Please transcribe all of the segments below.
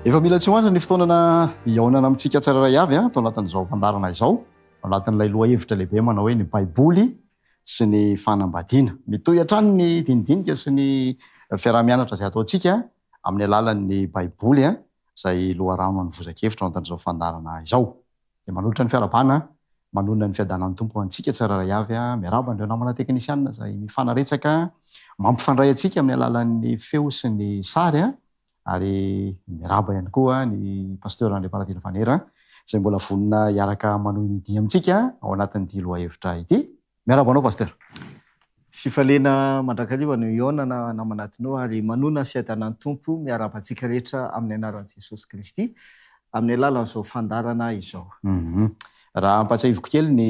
Efa mila tsy ho andra ny fotoanana hihaonana amintsika tsirairay avy a tao anatin'izao fandarana izao anatin'ilay lohahevitra lehibe manao hoe ny baiboly sy ny fanambadiana mitohy hatrany ny dinidinika sy ny fiaraha-mianatra izay ataontsika amin'ny alalan'ny Baiboly izay loharano an'ny vozan-kevitra ao anatin'izao fandaharana izao. Dia manolotra ny fiarahabana manonona ny fiadanan'ny Tompo ho antsika tsirairay avy. Miarahaba an'ireo namana teknisiana izay mifanaretsaka mampifandray antsika amin'ny alalan'ny feo sy ny sary, ary miarahaba ihany koa ny Pasteur Andriampa Radila Vanera izay mbola vonona hiaraka manohy ny dihy amintsika ao anatin'ity lohahevitra ity. Miarahaba anao Pasteur. Fifaliana mandrakariva no hihaonana naman'atinao ary manoana ny fiadanan'ny Tompo miarahaba antsika rehetra amin'ny anaran'i Jesosy Kristy amin'ny alalan'izao fandaharana izao. Raha ampahatsiahiviko kely ny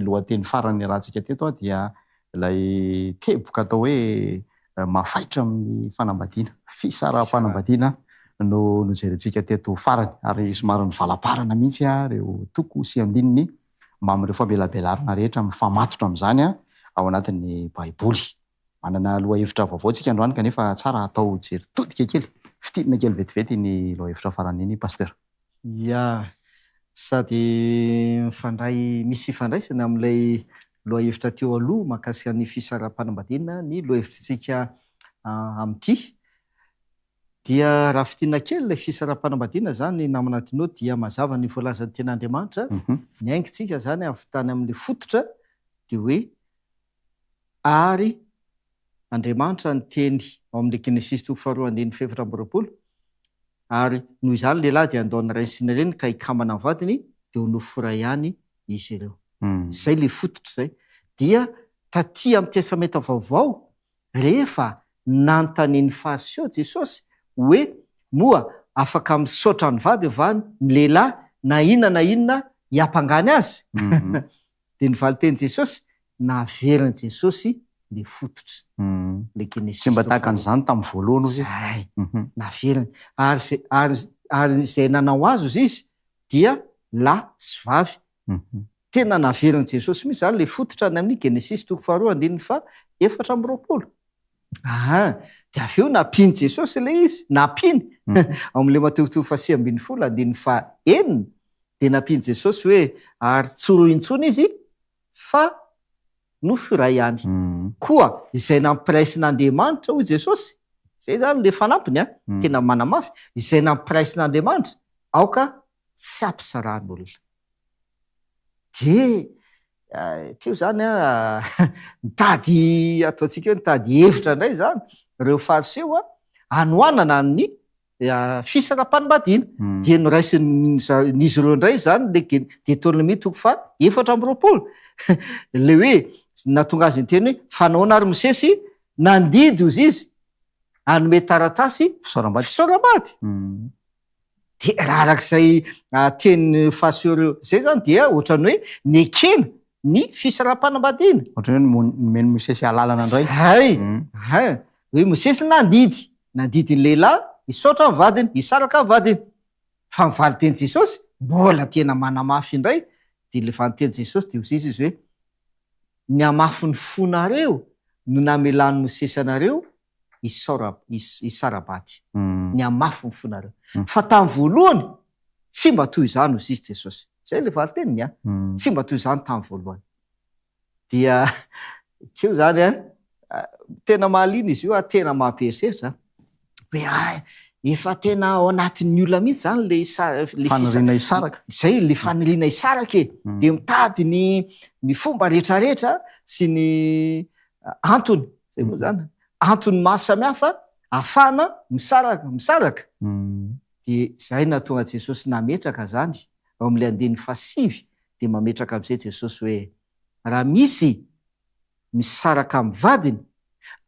lohateny farany niarahantsika teto aho dia ilay teboka atao hoe mafaitra amin'ny fanambadiana, fisaraham-panambadiana no nojerentsika teto farany ary somary nivalamparana mihitsy ireo toko sy andininy mbamin'ireo famelabelarana rehetra mifamatotra amin'izany ao anatin'ny Baiboly. Manana lohahevitra vaovao tsika androany kanefa tsara atao jery todika kely, fintinina kely vetivety iny lohahevitra farany iny Pasteur. Ia, sady mifandray, misy ifandraisany amin'ilay lohahevitra teo aloha mahakasika ny fisaraham-panambadiana ny lohahevitritsika amin'ity. Dia raha fintinina kely ilay fisaraham-panambadiana izany namana Tino dia mazava ny voalazan'ny ten'Andriamanitra, niaingintsika izany avy tany amin'ny fototra dia hoe ary Andriamanitra niteny ao amin'ny Genesisy toko faharoa andininy fahefatra amby roapolo ary noho izany lehilahy dia handao ny rainy sy ny reniny ka hikambana amin'ny vadiny dia ho nofo iray ihany izy ireo. Izay ilay fototra izay. Dia taty amin'ny Testamenta Vaovao Rehefa nanontanian'ny Fariseo Jesosy hoe, Moa afaka misaotra ny vadiny va ny lehilahy na inona na inona hiampangany azy? dia ny valin-tenin'i Jesosy, Naverin'i Jesosy le fototra. Le Genesisy. Tsy mba tahaka an'izany tamin'ny voalohany hozy izy. Zay. Naveriny. Ary izay, ary, ary izay nanao azy hozy izy dia lahy sy vavy Tena naverin'i Jesosy mihitsy izany ilay fototra any amin'ny Genesisy toko faharoa andininy faha efatra amby roapolo. Aa dia avy eo nampian'i Jesosy ilay izy, nampiany. Ao amin'ilay Matiotio faha sivy ambin'ny folo andininy faha enina dia nampian'i Jesosy hoe ary tsy roa intsony izy fa nofo iray ihany. Koa izay nampiraisin'Andriamanitra, hoy Jesosy, izay izany ilay fanampiny an, tena manamafy, izay nampiraisin'Andriamanitra, aoka tsy ampisaran'olona. Dia teo izany an, nitady ataontsika hoe nitady hevitra indray izany ireo Fariseo an, hanohanana an'i Fils Rampanimbadiana. Dia noraisin'izy ireo indray izany ilay Gen. Deuteronomie toko faha efatra amby roapolo. Ilay hoe, nahatonga azy niteny hoe, fa nahoana ary Mosesy nandidy ozizy hanome taratasy fisaoram-bady? De raha arak'izay tenin'i Faseur zay zany dia ohatrany hoe nekena ny fisaraham-panambadiana. Ohatrany hoe nomen'i Mosesy alalana indray. Zay, hein. Hoe Mosesy nandidy, nandidy ny lehilahy hisaotra ny vadiny, hisaraka ny vadiny. Fa ny valin-tenin'i Jesosy mbola tena manamafy indray, dia ilay valin-tenin'i Jesosy dia hoy izy hoe, Ny hamafin'ny fonareo no namelan'i Mosesy anareo hisara-baty, ny hamafy ny fonareo. Fa tamin'ny voalohany, tsy mba toy izany, hoy i Jesosy. Izay ilay valinteniny an! Tsy mba toy izany tamin'ny voalohany. Dia teo izany an, tena mahaliana izy io ary tena mampieritreritra an! Hoe hay, efa tena ao anatin'ny olona mihitsy izany ilay sa, ilay fisa, Faniriana hisaraka. izay ilay faniriana hisaraka e! Dia mitady ny ny fomba rehetra rehetra sy ny antony, zay moa zany, antony maro samihafa afahana misaraka, misaraka. Dia zay nahatonga Jesosy nametraka zany, ao amle andininy fahasivy dia mametraka amzay Jesosy hoe, raha misy misaraka amin'ny vadiny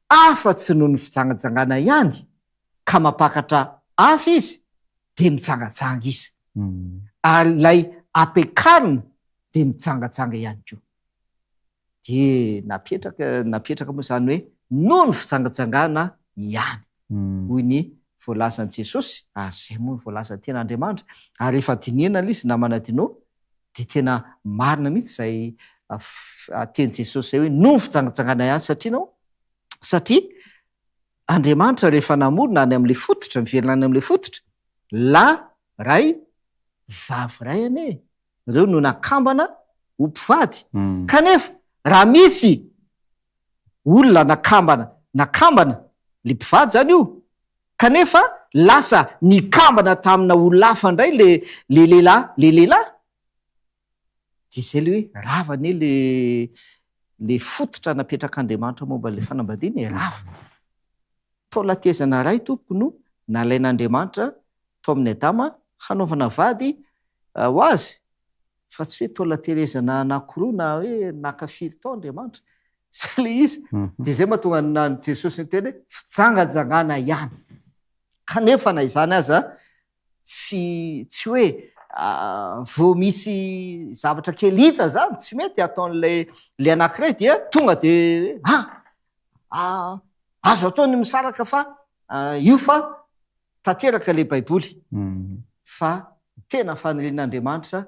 afa tsy noho ny fijangajangana ihany ka mampakatra afo izy dia mijangajanga izy, ary ilay ampiakarina dia mijangajanga ihany koa. dia napetraka napetraka moa izany hoe noho ny fijangajangana ihany hoy ny voalazan'i Jesosy ary izay moa no voalazan'ny ten'Andriamanitra ary rehefa dinihina ilay izy namana Dino dia tena marina mihitsy izay teny Jesosy izay hoe noho ny fijangajangana ihany satria nao satria Andriamanitra rehefa namorona any amin'ilay fototra miverina any amin'ilay fototra la ray vavy ray anie ireo no nakambana ho mpivady. Kanefa raha misy olona nakambana, nakambana le mpivady zany io, kanefa lasa nikambana tamina olona hafa ndray le le lehilahy, le lehilahy, de zay le hoe rava anie le le fototra napetrak'Andriamanitra momba le fanambadiana e, rava. Taola tehezana ray tompoko no nalain'Andriamanitra tao amin'ny Adama hanaovana vady ho azy, fa tsy hoe toa naterezana anankiroa na hoe naka firy tao Andriamanitra. Izay ilay izy. Dia izay mahatonga ny an'i Jesosy niteny hoe fijangajangana ihany. Kanefa na izany aza, tsy tsy hoe vao misy zavatra kely hita izany tsy mety hataon'ilay ilay anankiray dia tonga dia hoe, ah, azo atao ny misaraka fa io fa tanteraka ilay Baiboly fa ny tena fanirian'Andriamanitra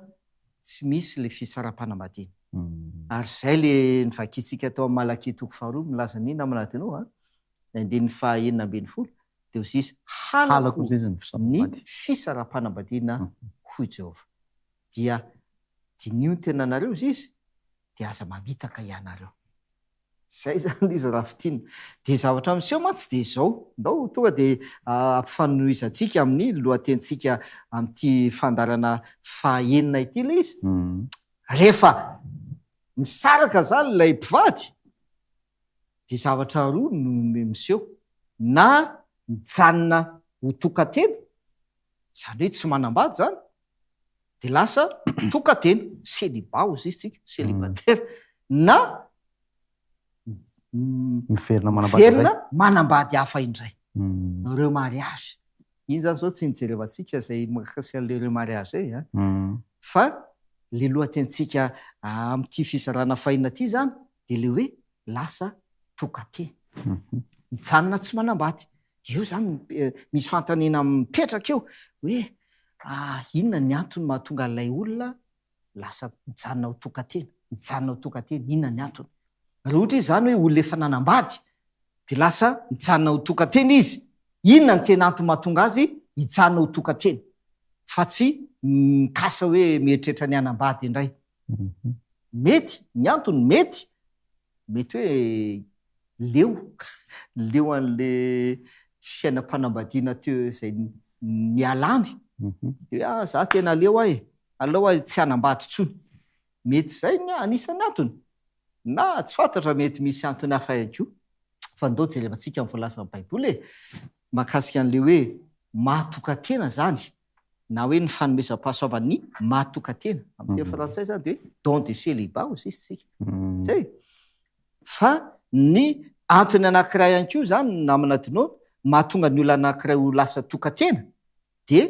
tsy misy ilay fitsaram-panambadiana. Ary izay ilay novakintsika tao amin'ny Malakia toko faharoa milaza an'iny namana adinoa, ny andininy fahenina ambin'ny folo, dia hoy izy, Halako ny fisaraham-panambadiana, hoy i Jehovah. Dia diniho ny tenanareo, hoy izy, dia aza mamitaka ianareo. Izay izany izy raha fintinina. Dia zavatra miseho mantsy dia izao, ndao tonga dia ampifanohizantsika amin'ny lohatenintsika amin'ity fandaharana fahaenina ity ilay izy. Rehefa misaraka izany ilay mpivady dia zavatra roa no miseho, na mijanona ho tokan-tena, izany hoe tsy manambady izany, dia lasa tokan-tena, celibat hozy izy tsika, celibataire, na miverina manambady indray. Miverina manambady hafa indray. Remariage. Iny izany izao tsy nijerevantsika izay mahakasika an'ilay remariage izay an. Fa ilay lohatenintsika amin'ity fizarana fahina ity izany, dia le hoe lasa toka-tena. Mijanona tsy manambady. Eo zany misy fanontaniana mipetraka eo hoe inona ny antony mahatonga an'ilay olona lasa mijanona ho toka-tena? Mijanona ho toka-tena, inona ny antony? Raha ohatra izy zany hoe olona efa nanambady dia lasa mijanona ho toka-tena izy, inona ny tena antony mahatonga azy hijanona ho toka-tena fa tsy mikasa hoe mieritreritra ny hanambady indray? Mhm. Mety, ny antony mety, mety hoe leo, leo an'le fiainam-panambadiana teo izay ni- nialany. Mhm. Dia hoe ah za tena leo ahy, aleo ahy tsy hanambady intsony. Mety izay ny anisan'ny antony. Na tsy fantatra mety misy antony hafa ihany koa. Fa ndao jerevantsika ny voalazan'ny Baiboly e, mahakasika an'le hoe maha-tokan-tena izany. na hoe ny fanomezam-pahasoavan' ny maha tokan-tena, amin' ny teny frantsay izany dia hoe don de célibat hoy isika, zay. Fa ny antony anankiray ihany koa izany namana Dinono mahatonga ny olona anankiray ho lasa tokan-tena dia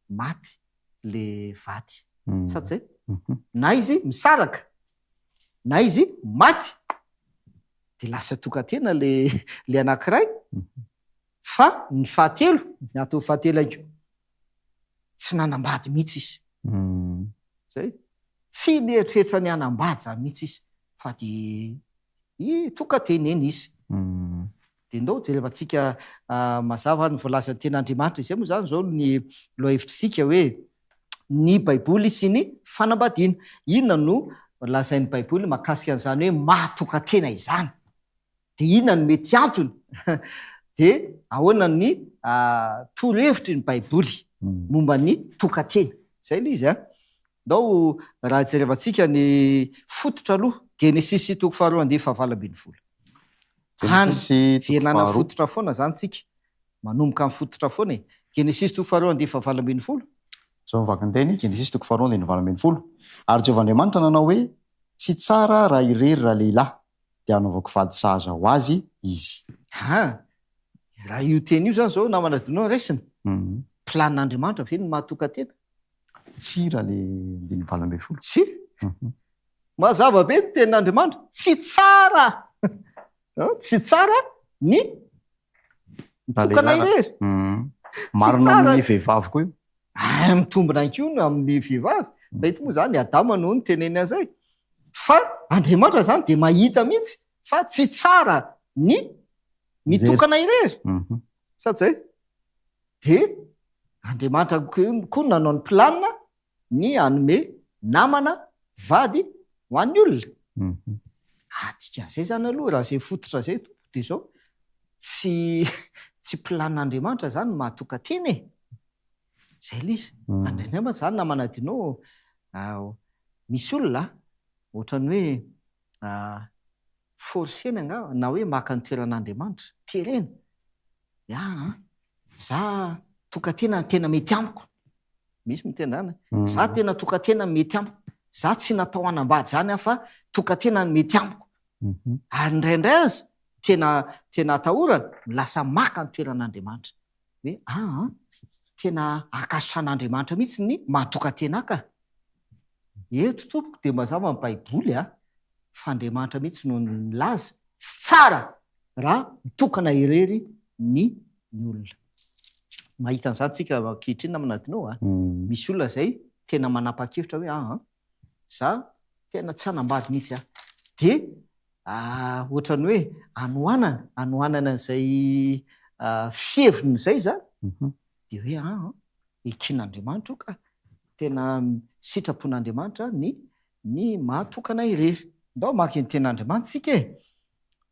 maty le vady, sa tsy zay? Na izy misaraka, na izy maty dia lasa tokan-tena le le anankiray, Fa ny fahatelo, ny antony fahatelo haingo, tsy nanambady mihitsy izy. Zay. Tsy nieritreritra ny hanambady zany mihitsy izy fa dia i toa ka dia neny izy. Dia ndao jerevantsika mazava ny voalazan'ny Tenin'Andriamanitra. Izay moa izany izao ny lohahevitr'isika hoe ny Baiboly sy ny fanambadiana. Inona no lazain'ny Baiboly mahakasika an'izany hoe maha-tokan-tena izany? Dia inona no mety antony? Dia ahoana ny torohevitry ny Baiboly momba ny tokan-tena? Izay ilay izy. Ndao raha jerevantsika ny fototra aloha, Genesisy toko faharoa andinin'ny fahavalo ambin'ny folo. Genesisy toko faharoa. Any velana fototra foana izany tsika. Manomboka amin'ny fototra foana e. Genesisy toko faharoa andinin'ny fahavalo ambin'ny folo. Izao ny vakin-teny, Genesisy toko faharoa andinin'ny fahavalo ambin'ny folo. Ary Jehovah Andriamanitra nanao hoe, Tsy tsara raha irery ralehilahy. dia hanaovako vady sahaza ho azy izy. Ha! Raha io teny io izany izao namana dia no raisina? Planin'Andriamanitra ve ny mahatokan-tena? Tsia raha ilay andininy valo ambin'ny folo. Tsia! Mazava be ny tenin'Andriamanitra. Tsy tsara! Tsy tsara ny mitokana irery. Tsy tsara! Marina amin'ny vehivavy koa io. Ary mitombina ihany koa ny amin'ny vehivavy. Mety moa izany i Adama no niteneniny an'izay. Fa Andriamanitra izany dia mahita mihitsy fa tsy tsara ny mitokana irery. Sa tsy izay? Dia Andriamanitra koa no nanao ny planina ny hanome namana, vady ho an'ny olona. Ah, dikan'izay izany aloha raha izay fototra izay tompoko dia izao, tsy tsy planina Andriamanitra izany ny maha-tokan-tena e! Zay ilay izy. Mandray ny ambiny zany na manadino misy olona ohatrany hoe forcena angamba na hoe maka ny toeran'Andriamanitra. Terena hoe aa za tokatena tena mety amiko. Misy miteny zany hoe za tena tokatena mety amiko. Za tsy natao hanambady zany aho fa tokatena no mety amiko. Ary indraindray aza tena tena atahorana no lasa maka ny toeran'Andriamanitra. Hoe aa tena akasan'Andriamanitra mihitsy ny mahatokan-tena ka! Eto tompoko dia mazava ny baiboly a! fa Andriamanitra mihitsy no nilaza tsy tsara raha mitokana irery ny ny olona. Mahita an'izany tsika ankehitriny namana Dino a! Misy olona izay tena manapa-kevitra hoe aa za tena tsy hanambady mihitsy a! de ohatran'ny hoe anohanana anohanana an'izay fiheviny izay za de hoe an eken'Andriamanitra io ka! tena sitrapon'Andriamanitra ny ny maha tokana irery. Ndao hamaky ny Tenin'Andriamanitra isika e!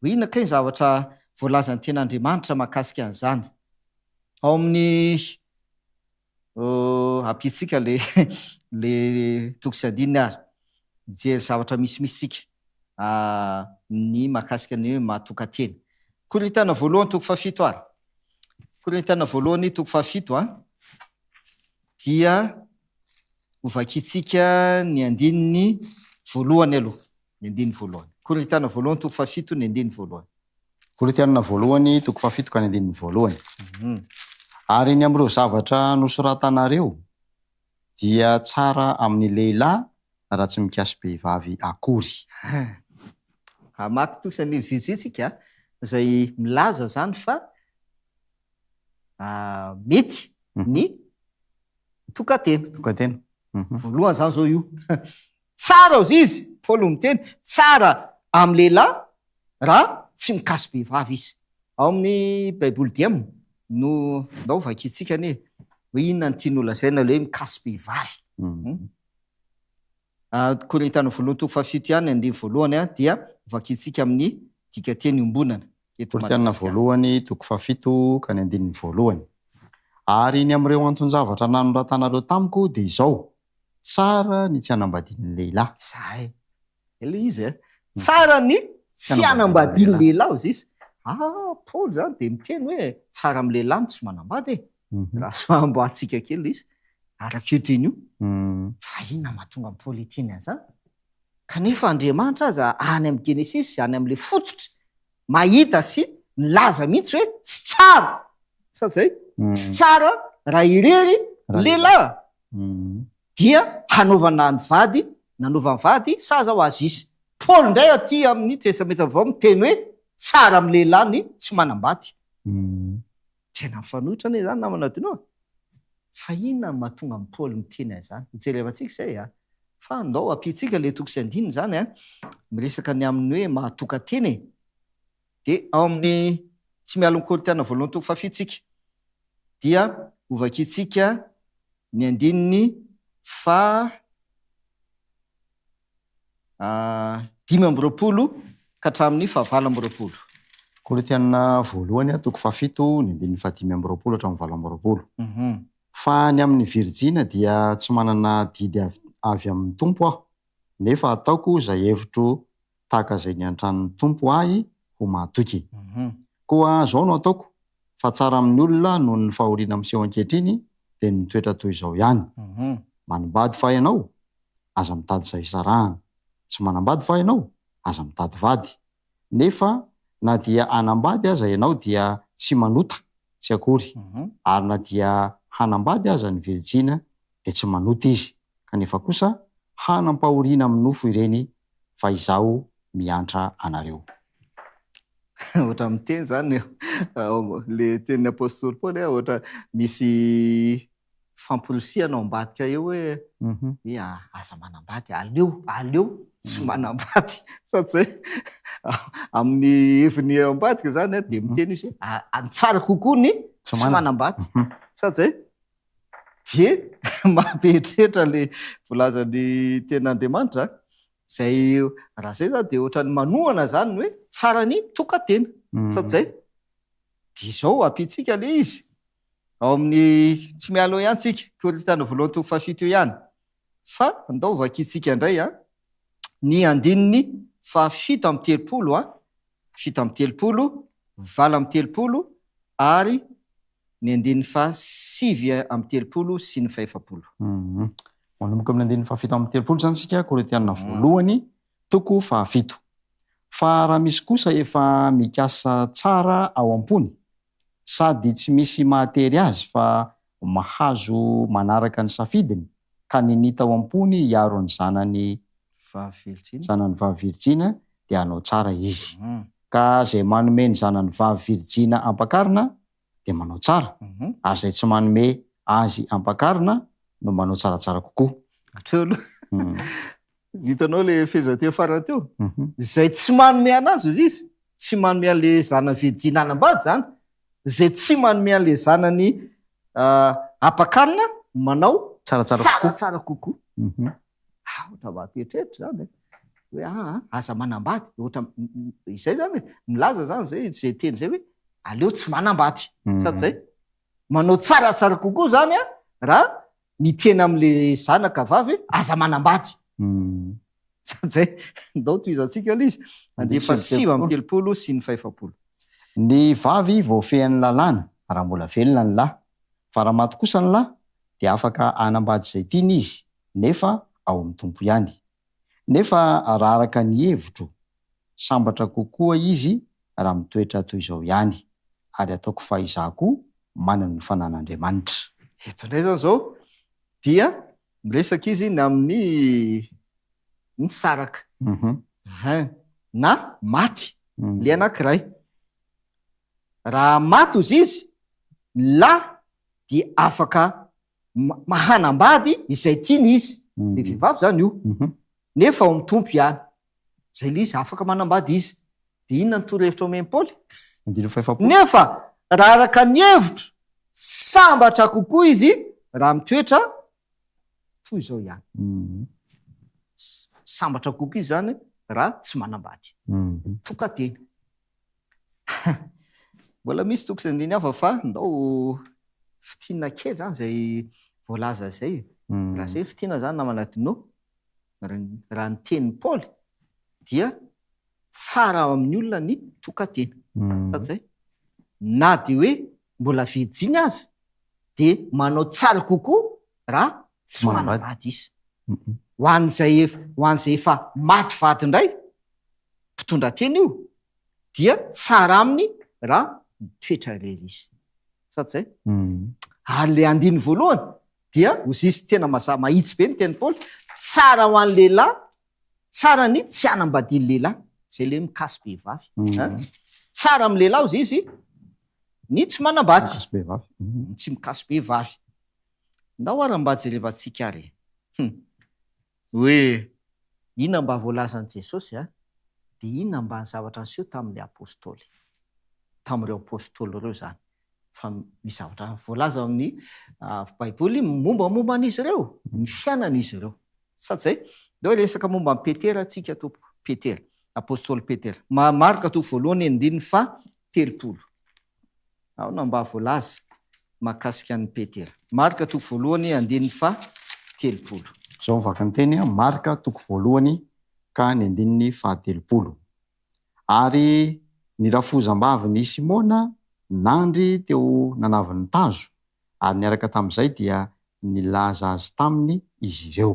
hoe inona kay ny zavatra voalazan'ny Tenin'Andriamanitra mahakasika an'izany? ao amin'ny. Oh, ampiantsika le le toko sy andininy ary mijery zavatra misimisy isika amin'ny mahakasika ny hoe mahatokan-tena. Korinthiana voalohany toko fahafito ary. Korinthiana voalohany toko fahafito a, dia hovakintsika ny andininy voalohany aloha. ny andininy voalohany. Korintiana voalohany toko fahafito ny andininy voalohany. Korintiana voalohany toko fahafito ka ny andininy voalohany. Ary ny amin'ireo zavatra nosoratanareo dia tsara amin'ny lehilahy raha tsy mikasy behivavy akory. Hamaky tosa ny vitsivitsy isika izay milaza izany fa mety ny tokan-tena. Tokan-tena. Voalohany izany izao io. Tsara ozy izy, Paoly no miteny, tsara amin'ny lehilahy raha tsy mikasy vehivavy izy. Ao amin'ny Baiboly Diem no ndao vakintsika anie hoe inona no tiany holazaina ilay hoe mikasy vehivavy. Hum. Ao Korintana voalohany toko fahafito ihany ny andininy voalohany dia vakintsika amin'ny dikanteny iombonana eto Korintana Madagasikara. voalohany toko fahafito ka ny andininy voalohany. Ary ny amin'ireo anton-javatra nanoratanareo tamiko dia izao, Tsara ny tsy hanambadian'ny lehilahy. Zahay. Ilay izy eh. Tsara ny tsy hanambadian'ny lehilahy hoy Zisy. Ah, Paoly izany dia miteny hoe tsara amin'ny lehilahy ny tsy manambady e! Raha soahamboahantsika kely ilay izy, araka io teny io, fa inona no mahatonga an'i Paoly hiteny an'izany? Kanefa Andriamanitra aza any amin'ny Genesisy, any amin'ilay fototry, mahita sy milaza mihitsy hoe tsy tsara, sa tsy izay? Tsy tsara raha irery ny lehilahy. Dia hanaovana ny vady nanaovany vady sa zao azy izy. Paoly indray aty amin'ny Testamenta Vaovao miteny hoe tsara amin'ny lehilahy ny tsy manambady. Tena mifanohitra anie izany namana Adino a! Fa inona no mahatonga an'i Paoly miteny an'izany? Hojerevantsika izay a! Fa ndao ampiantsika ilay toko sy andininy izany a! Miresaka ny amin'ny hoe maha-tokantena e! Dia ao amin'ny Tsy mialon'ny Koritiana voalohany toko fahafito isika, dia hovakiantsika ny andininy faha dimy amby roapolo ka hatramin'ny fahavalo amby roapolo. Koritiana voalohany toko fahafito ny andininy fahadimy amby roapolo hatramin'ny valo amby roapolo. Fa ny amin'ny virijina dia tsy manana didy avy amin'ny Tompo aho, nefa ataoko izay hevitro tahaka izay niantran'ny Tompo ahy ho mahatoky. Koa izao no ataoko, fa tsara amin'ny olona noho ny fahoriana miseho ankehitriny dia ny mitoetra toy izao ihany. Manambady fa ianao? Aza mitady izay hisarahana. Tsy manambady fa ianao? Aza mitady vady. Nefa na dia hanambady aza ianao dia tsy manota, tsy akory. Ary na dia hanambady aza ny virijina dia tsy manota izy, kanefa kosa hanam-pahoriana amin'ny nofo ireny fa izaho miantra anareo. Ohatra ny miteny izany ilay tenin'ny apostoly Paoly hoe ohatra misy famporisihana ao ambadika eo hoe hoe aza manambady, aleo, aleo tsy manambady. Sady izay amin'ny heviny ao ambadika izany dia miteny izy hoe tsara kokoa ny tsy manambady. Sa tsy izay? Dieny maha be hetrehitra le volazan'ny tenin'Andriamanitra zay raha zay zany de ohatran'ny manohana zany ny hoe tsara ny tokantena sa tsy zay? De zao ampiantsika le izy ao amin'ny tsy miala eo ihany tsika Korintiana voalohany toko fahafito eo ihany fa andao vakintsika indray a ny andininy fahafito amby telopolo a fito amby telopolo valo amby telopolo ary ny andininy faha sivy amby telopolo sy ny fahefapolo. Manomboka amin'ny andininy fahafito amby telopolo izany isika, Korintiana voalohany, toko fahafito. Fa raha misy kosa efa mikasa tsara ao am-pony, sady tsy misy mahatery azy fa mahazo manaraka ny safidiny, ka nini tao am-pony hiaro ny zanany vavy virjina. Zanany vavy virjina, dia hanao tsara izy. Ka izay manome ny zanany vavy virjina ampakarina, dia manao tsara, ary izay tsy manome azy ampakarina no manao tsaratsara kokoa. Hatreo aloha. Hitanao ilay fehezanteny farany teo? Izay tsy manome an'azy, hoy izy, tsy manome an'ilay zanany virjina hanambady izany, izay tsy manome an'ilay zanany ampakarina, manao tsaratsara kokoa. Aotra mba ampieritreritra izany e! hoe aa aza manambady, ohatra izay izany e! milaza izany izay izay teny izay hoe aleo tsy manambady, sa tsy izay? manao tsaratsara kokoa izany an! raha miteny amin'ilay zanaka vavy hoe aza manambady, sa tsy izay? ndao tohizantsika ilay izy, andefa sivy amby telopolo sy ny fahefapolo. Ny vavy voafehin'ny lalàna raha mbola velona ny lahy, fa raha maty kosa ny lahy dia afaka hanambady izay tiany izy nefa ao amin'ny Tompo ihany. Nefa raha araka ny hevitro, sambatra kokoa izy raha mitoetra toy izao ihany, ary ataoko fa izaho koa manana ny fanan'Andriamanitra. Eto indray izany izao dia miresaka izy ny amin'ny ny saraka, hein, na maty ilay anankiray. Raha maty hozy izy, ny lahy dia afaka mahanambady izay tiany izy, le vehivavy izany io, nefa ao amin'ny Tompo ihany. Izay le izy, afaka manambady izy. Dia inona ny torohevitra omen'i Paoly? Nefa raha araka ny hevitro, sambatra kokoa izy raha mitoetra toy izao ihany. Sambatra kokoa izy izany raha tsy manambady. Tokan-tena. Mbola misy toko sy andininy hafa fa ndao fitinina kely zany zay voalaza zay e. Raha zay fitinina zany namana Dino, raha ny tenin'i Paoly dia tsara amin'ny olona ny tokan-tena. Sa tsy zay? Na dia hoe mbola virjiny aza dia manao tsara kokoa raha tsy manambady izy. Ho an'izay efa maty vady indray, mpitondra tena io, dia tsara aminy raha mitoetra irery izy. Sa tsy izay? Ary ilay andininy voalohany dia ozisy tena mazava mahitsy be ny teny Paoly, tsara ho an'ny lehilahy, tsara ny tsy hanambadian'ny lehilahy, izay ilay hoe mikasy behivavy. Tsara amin'ny lehilahy hozy izy ny tsy manambady, ny tsy mikasy behivavy. Ndao ary mba jerevantsika ary. Hoe inona mba voalazan'i Jesosy a? Dia inona mba ny zavatra niseho tamin'ilay Apostoly, tamin'ireo Apostoly ireo izany? Fa misy zavatra voalaza ao amin'ny Baiboly mombamomba an'izy ireo, ny fiainan'izy ireo. Sa tsy izay? Dia hoe resaka momba an'i Petera isika tompoko, Petera, Apostoly Petera. Marka toa voalohany andininy faha telopolo. Aona mba voalaza mahakasika an'i Petera? Marka toko voalohany andininy faha telopolo. Izao ny vaky ny teny, Marka toko voalohany ka ny andininy faha telopolo, Ary ny rafozambavin' i Simona nandry teo nanavy ny tazo, ary niaraka tamin' izay dia nilaza azy taminy izy ireo.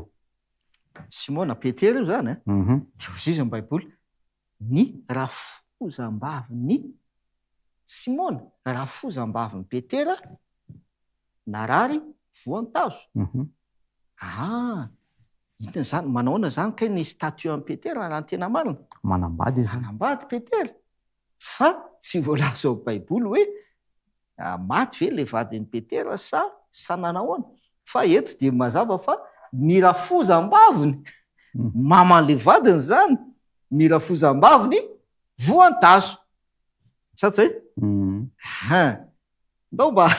Simona Petera io izany an? Dia hoy izy izy ny Baiboly, Ny rafozambavin'i Simona, rafozambavin'i Petera, narary voantazo. Aa! inona izany? Manahoana izany kay ny statut an'i Petera raha ny tena marina? Manambady izy. Manambady Petera, fa tsy voalaza ao Baiboly hoe Maty ve ilay vadin'i Petera sa sa nanahoana? Fa eto dia mazava fa ny rafozam-baviny mama an'ilay vadiny izany, ny rafozam-baviny voan-tazo. Sa tsy izay? Hein. Ndao mba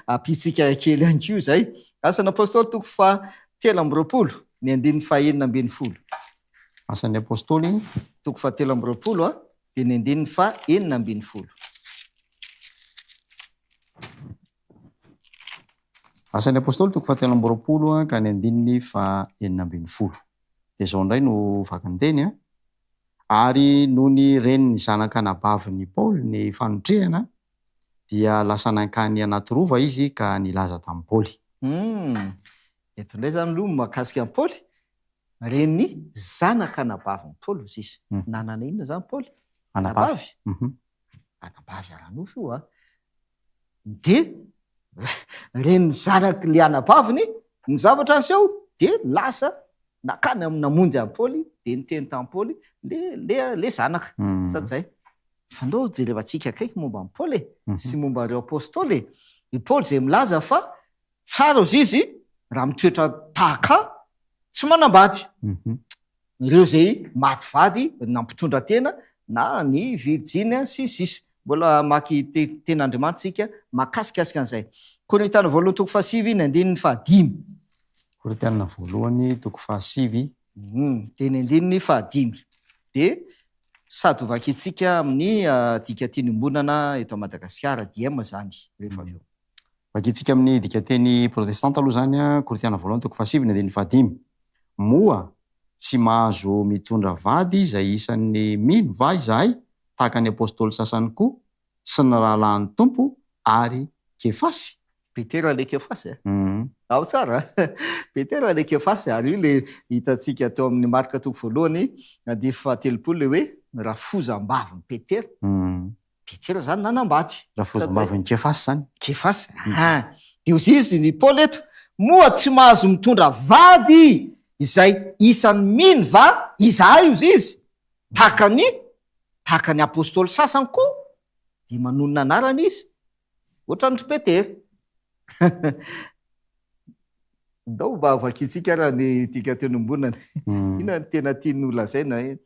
ampiantsika kely ihany koa izay. Asan'ny Apostoly toko fahatelo amby roapolo, ny andininy fahenina ambin'ny folo. Asan'ny Apostoly. Toko fahatelo amby roapolo. Teny andininy faha enina ambin'ny folo. Asan'ny Apostoly, toko fahatelo amby roapolo ka ny andininy faha enina ambin'ny folo. Dia izao indray no vakin'ny teny, Ary nony ren'ny zanak'anabavin'i Paoly ny fanotrehana, dia lasa nankany anaty rova izy ka nilaza tamin'i Paoly. Humm! Eto indray izany aloha ny mahakasika an'i Paoly Renin'ny zanaka anabavin'i Paoly hozy izy. Nanana inona izany Paoly? Anabavy. Anabavy ara-nofo io an! Dia renin'ny zanak'ilay anabaviny ny zavatra niseho, dia lasa nankany amin'ny namonjy an'i Paoly, dia niteny tamin'i Paoly ilay zanaka. Sa tsy izay? Fa ndao jerevantsika akaiky momba an'i Paoly e! sy momba ireo apostoly e! I Paoly izay milaza fa Tsara ozy izy raha mitoetra tahaka tsy manambady. Ireo izay maty vady nampitondra tena na ny virjiny sy ny sisa. Mbola hamaky Tenin'Andriamanitra isika mahakasikasika an'izay. Korintiana voalohany toko fahasivy ny andininy fahadimy. Korintiana voalohany toko fahasivy. Dia ny andininy fahadimy. Dia sady hovakintsika amin'ny dika tiany iombonana eto Madagasikara, DIEM, izany rehefa avy eo. Vakintsika amin'ny dikanteny protestanta aloha izany, Korintiana voalohany toko fahasivy ny andininy fahadimy. Moa tsy mahazo mitondra vady izay isan'ny mino va izahay, tahaka ny apostoly sasany koa, sy ny rahalahin'ny Tompo, ary Kefasy? Petera ilay Kefasy e? Ao tsara a! Petera ilay Kefasy, ary io ilay hitantsika teo amin'ny Marka toko voalohany, andininy fahatelopolo, ilay hoe, ny rafozam-bavin'i Petera. Petera zany nanambady. Rafozambavin'i Kefasy zany. Kefasy a! Dia hozy izy i Paoly eto, Moa tsy mahazo mitondra vady izay isan'ny mino va izahay hozy izy? Tahaka ny tahaka ny apostoly sasany koa dia manonona anarana izy Ohatran'ny ry Petera. Ndao mba vakintsika ara ny dika teny ombonany. Inona no tena tiany holazaina hoe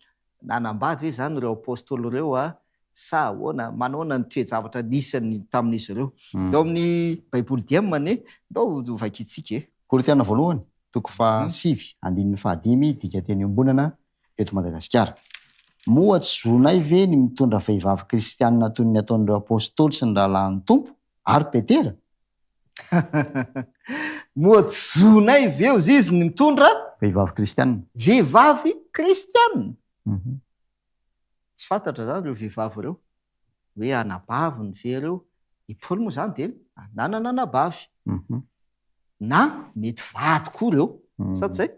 nanambady ve izany ireo apostoly ireo sa ahoana? Manaona ny toe-javatra nisy tamin'izy ireo? Eo amin'ny Baiboly Diem anie, ndao vakintsika e. Korintiana Voalohany, toko faha sivy, andininy faha dimy, dika teny ombonana, eto Madagasikara. Moa tsy zonay ve ny mitondra vehivavy kristianina toy ny nataon'ireo Apostoly sy ny rahalahin'ny Tompo, ary Petera? Moa tsy zonay ve, hoy izy, ny mitondra. Vehivavy kristianina? Vehivavy kristianina! Tsy fantatra izany ireo vehivavy ireo, hoe anabaviny ve ireo. I Paoly moa izany dia nanana anabavy, na mety vady koa ireo, sa tsy izay?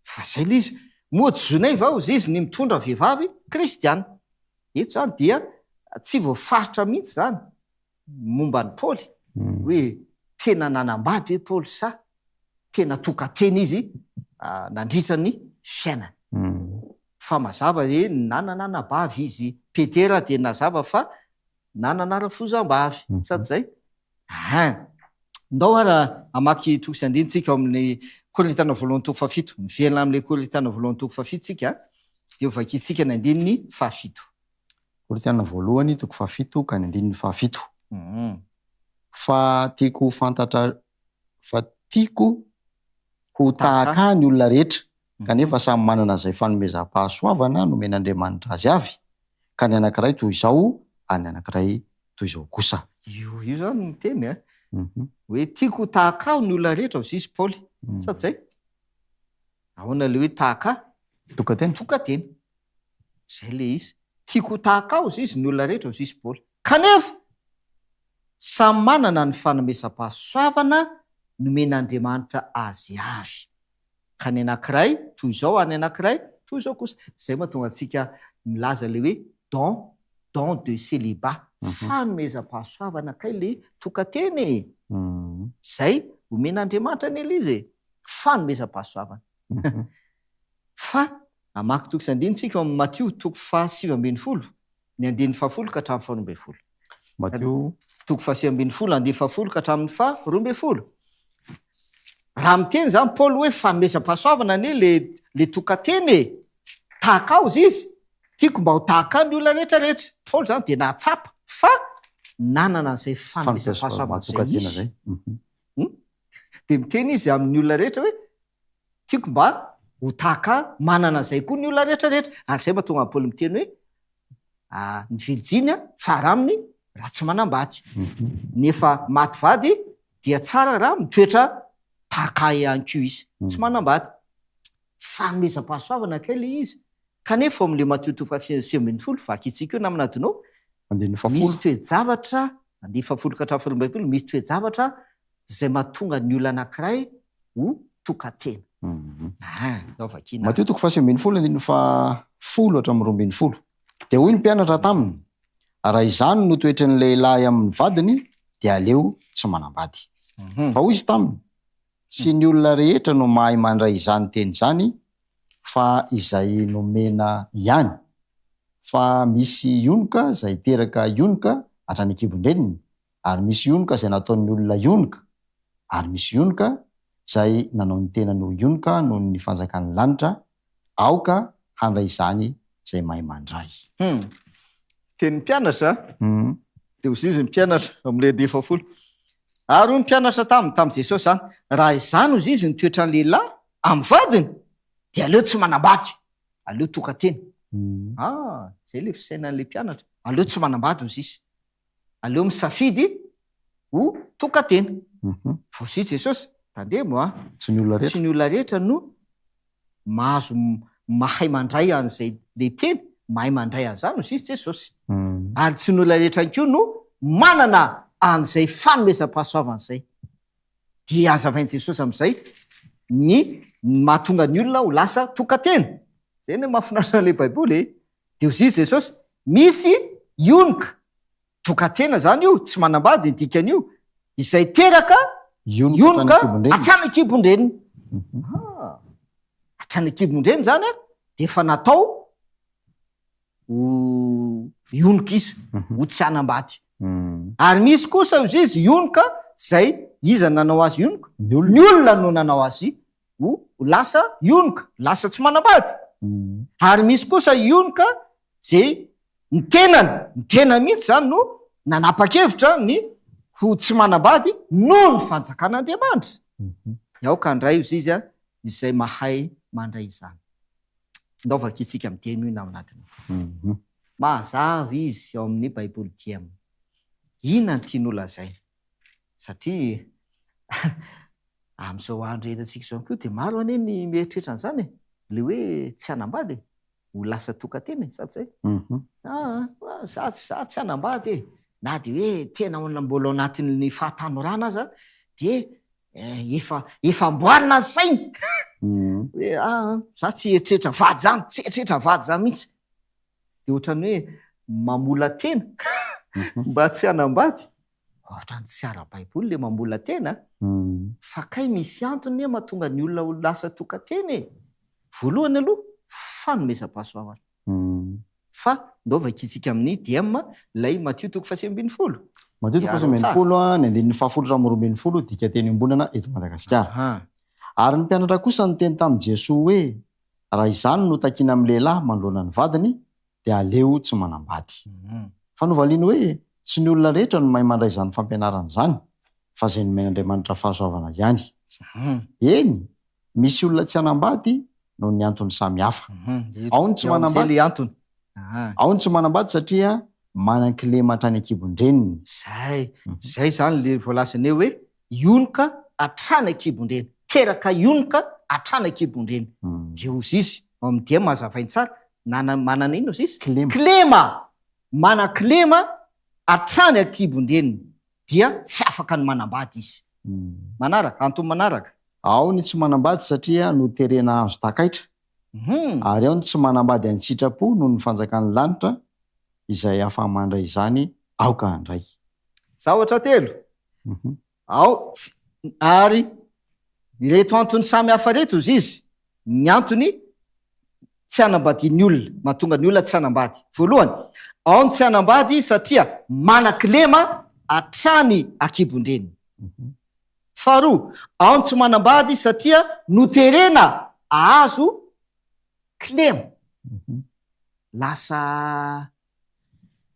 Fa izay ilay izy. Moa tsy zoinay va hozy izy ny mitondra vehivavy kristiana? Eto izany dia tsy voafaritra mihitsy izany momba an'i Paoly, hoe tena nanambady ve Paoly sa tena tokan-tena izy nandritra ny fiainany. Fa mazava hoe nanana anabavy izy. Petera dia nazava fa na nanara foza mba avy sa tsy zay? Aha! Ndao ara hamaky toko sy andiny tsika ao amin'ny Korintana voalohany toko fahafito. Miverina amin'ilay Korintana voalohany toko fahafito tsika dia ho vakintsika ny andininy fahafito. Korintana voalohany toko fahafito ka ny andininy fahafito. Hum. Fa tiako ho fantatra fa tiako ho tahaka ny olona rehetra. kanefa samy manana izay fanomezam-pahasoavana nomen'Andriamanitra azy avy, ka ny anankiray toy izao ary ny anankiray toy izao kosa. Io io izany no teny a! hoe tiako ho tahaka ahy ny olona rehetra, hoy i Paoly, sa tsy izay? Ahoana ilay hoe tahaka ahy? Tokan-tena. Tokan-tena. Izay ilay izy. Tiako ho tahaka ahy, hoy izy, ny olona rehetra, hoy i Paoly. Kanefa, samy manana ny fanomezam-pahasoavana nomen'Andriamanitra azy avy. ka ny anankiray toy izao ary ny anankiray toy izao kosa. Izay mahatonga antsika milaza ilay hoe don, don de célibat, fanomezam-pahasoavana kay ilay tokan-tena e! Izay omen'Andriamanitra an'i Eliza e! Fanomezam-pahasoavana. Fa hamaky toko sy andininy isika ao amin'ny Matio toko fahasivy ambin'ny folo, Ny andininy fahafolo ka hatramin'ny faharoa ambin'ny folo. Mateo. Toko fahasivy ambin'ny folo, andininy fahafolo ka hatramin'ny faharoa ambin'ny folo. Raha miteny izany Paoly hoe fanomezam-pahasoavana anie ilay ilay tokan-teny e! Tahaka azy izy. Tiako mba ho tahaka ahy ny olona rehetra rehetra. Paoly izany dia nahatsapa fa nanana an'izay fanomezam-pahasoavana izay izy. Dia miteny izy amin'ny olona rehetra hoe Tiako mba ho tahaka manana izay koa ny olona rehetra rehetra. Ary izay mahatonga an'i Paoly miteny hoe ny virjiny tsara aminy raha tsy manambady. Ny efa maty vady dia tsara raha mitoetra tahaka ahy ihany koa izy. Tsy manambady. Fanomezam-pahasoavana kay ilay izy. Kanefa ao amin'ilay Matio toko fahasivy ambin'ny folo, vakintsika io namana adinao, misy toe-javatra, andiany fahafolo ka hatramin'ny fahaloambin'ny folo, misy toe-javatra izay mahatonga ny olona anankiray ho tokan-tena. Aa, izao vakiana. Matio toko fahasivy ambin'ny folo andininy fahafolo hatramin'ny roa ambin'ny folo. Dia hoy ny mpianatra taminy, Raha izany no toetry ny lehilahy amin'ny vadiny, dia aleo tsy manambady. Fa hoy izy taminy, Tsy ny olona rehetra no mahay mandray izany teny izany, fa izay nomena ihany. Fa misy ionoka izay teraka ionoka hatrany an-kibon-dreniny, ary misy yonoka izay nataon'ny olona yonoka, ary misy yonoka izay nanao ny tenany ho yonoka noho ny fanjakan'ny lanitra, aoka handray izany izay mahay mandray. Hum. Teny mpianatra, Hum. Dia hoy izy ny mpianatra, ao amin'ny lehibe fahafolo, Ary hoy ny mpianatra taminy, tamin'i Jesosy izany, Raha izany, hoy izy, no toetran'ny lehilahy amin'ny vadiny, dia aleo tsy manambady, aleo toka-tena. Hum. Ah, izay ilay fisainan'ilay mpianatra, aleo tsy manambady, hoy izy. aleo misafidy ho tokan-tena. Voazy Jesosy, tandremo a! Tsy ny olona rehetra. Tsy ny olona rehetra no mahazo mahay mandray an'izay le teny mahay mandray an'izany hozy Jesosy. Ary tsy ny olona rehetra ihany koa no manana an'izay fanomezam-pahasoavana izay. Dia hazavain'i Jesosy amin'izay ny mahatonga ny olona ho lasa tokan-tena. Izay no mahafinaritra an'ilay Baiboly e! Dia hozizy Jesosy, Misy ionoka, dokatena izany io, tsy manambady ny dikan'io, izay teraka ionoka hatrany an-kibon-dreniny. Aha! Hatrany an-kibon-dreniny izany an, dia efa natao ho ionoka izy, ho tsy hanambady. Ary misy kosa hozizy ionoka izay, iza no nanao azy ionoka? Ny olona no nanao azy ho lasa ionoka, lasa tsy manambady. Ary misy kosa ionoka izay ny tenany, ny tenany mihitsy izany no nanapa-kevitra ny ho tsy manambady noho ny fanjakan'Andriamanitra. Dia aoka handray hozy izy an, izay mahay mandray izany. Findaovaka isika mideno iny ao anatin'io. Mazava izy ao amin'ny Baiboly diam. Inona ny tiany holazaina? satria amin'izao andro iainantsika izao ihany koa dia maro anie ny mieritreritra an'izany e, ilay hoe tsy hanambady e, ho lasa tokan-tena e, sa tsy izay? Aa, za, za tsy hanambady e, na dia hoe tena ao mbola ao anatin'ny fahatanorana aza dia efa, efa amboarina ny sainy hoe aa, za tsy hieritreritra vady izany, tsy hieritreritra vady izany mihitsy. dia ohatran'ny hoe mamola-tena mba tsy hanambady. Ohatran'ny tsy ara-baiboly ilay mamola-tena fa kay misy antony anie mahatonga ny olona ho lasa tokan-tena e! Voalohany aloha fanomezam-pahasoavana. Fa ndao vakintsika amin'ny DM ilay Matio toko fahasivy ambin'ny folo. Matio toko fahasivy ambin'ny folo, ny andininy fahafolo hatramin'ny roa ambin'ny folo, dikanteny iombonana eto Madagasikara. Ary ny mpianatra kosa niteny tamin'i Jesoa hoe, Raha izany no takiana amin'ny lehilahy manoloana ny vadiny dia aleo tsy manambady. Fa novaliany hoe tsy ny olona rehetra no mahay mandray izany fampianarana izany fa izay nomen'Andriamanitra fahasoavana ihany. Eny, misy olona tsy hanambady noho ny antony samy hafa. Ao ny tsy manambady, ao ny tsy manambady satria manan-kilema hatrany an-kibon-dreniny. Izay, izay izany ilay voalazanay hoe Ionoka hatrany an-kibon-dreny. Teraka ionoka hatrany an-kibon-dreny. Dia hozy izy, ao amin'ny dihem hazavainy tsara, nana, manana inona hozy izy? Kilema. Kilema! Manan-kilema hatrany an-kibon-dreniny. Dia tsy afaka ny manambady izy. Manaraka? Antony manaraka? Ao ny tsy manambady satria noterena hahazo takaitra, ary ao ny tsy manambady an-tsitrapo noho ny fanjakan'ny lanitra izay afa-mandray izany aoka handray. Zavatra telo Ao, tsy, ary ireto antony samy hafa ireto, hoy izy, ny antony tsy hanambadian'ny olona, mahatonga ny olona tsy hanambady. Voalohany, ao ny tsy hanambady satria manan-kilema hatrany an-kibon-dreniny. Faharoa, ao ny tsy manambady satria noterena hahazo kilema. Lasa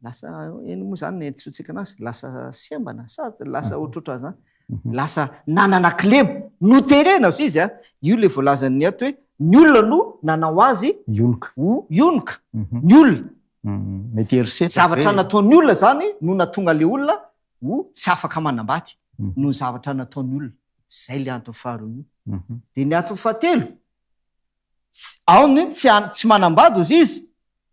Lasa eny moa zany ny entitsontsika anazy, lasa sembana sa lasa ah. ohatrotra zany. Mhm. Lasa nanana kilema, noterena ozy izy a. Ah. Io le voalazan'ny ato hoe ny olona no nanao azy ionoka. Ionoka, mhm. ny olona. Mhm. Mety herisetra. Zavatra nataon'ny olona zany no natonga le olona ho tsy afaka manambady no zavatra nataon'ny olona. Zay le antony faharoa io. De ny antony fahatelo, aony tsy manambady ozy izy,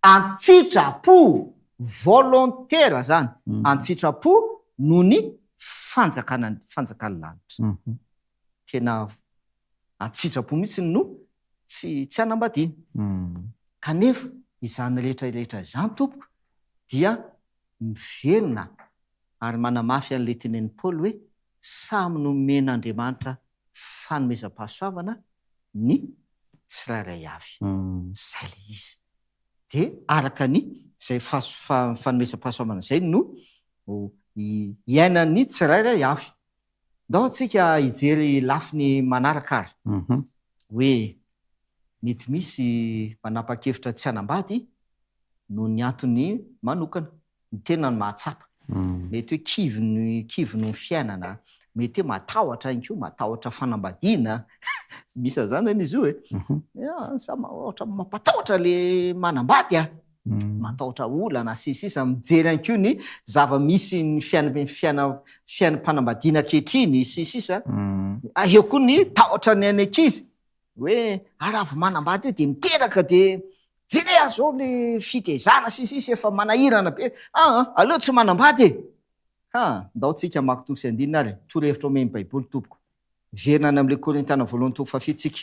Antsitra-po, volontaire zany, antsitra-po noho ny fanjakana ny fanjakan'ny lanitra. Tena antsitra-po mihitsy no tsy tsy hanambadiana. Kanefa izany rehetra rehetra izany tompoko dia miverina. ary manamafy an'ilay tenenin'i Paoly hoe samy nomen'Andriamanitra fanomezam-pahasoavana ny tsirairay avy. Izay ilay izy. Dia araka ny izay fanomezam-pahasoavana izay no iainan'ny tsirairay avy. Ndao antsika hijery lafiny manaraka ary. Hoe mety misy manapa-kevitra tsy hanambady noho ny antony manokana. Ny tena no mahatsapa. Mety hoe kivy ny kivy noho ny fiainana. Mety hoe matahotra ihany koa, matahotra fanambadiana. Misy an'izany anie izy io e. Samy ohatra mampatahotra ilay manambady a! matahotra olana, sy ny sisa Mijery ihany koa ny zava-misy ny fiainam-piaina fiainam-panambadiana ankehitriny, sy ny sisa Eo koa ny tahotra ny an'ny ankizy hoe ah raha vao manambady eo dia miteraka dia jereo ary izao ilay fitezana sy ny sisa efa manahirana be ah aleo tsy manambady e! Ha, ndao tsika hamaky toa sy andininy ary torohevitra omen'ny baiboly tompoko Miverina any amin'ilay Korintana voalohany toko fahafito isika.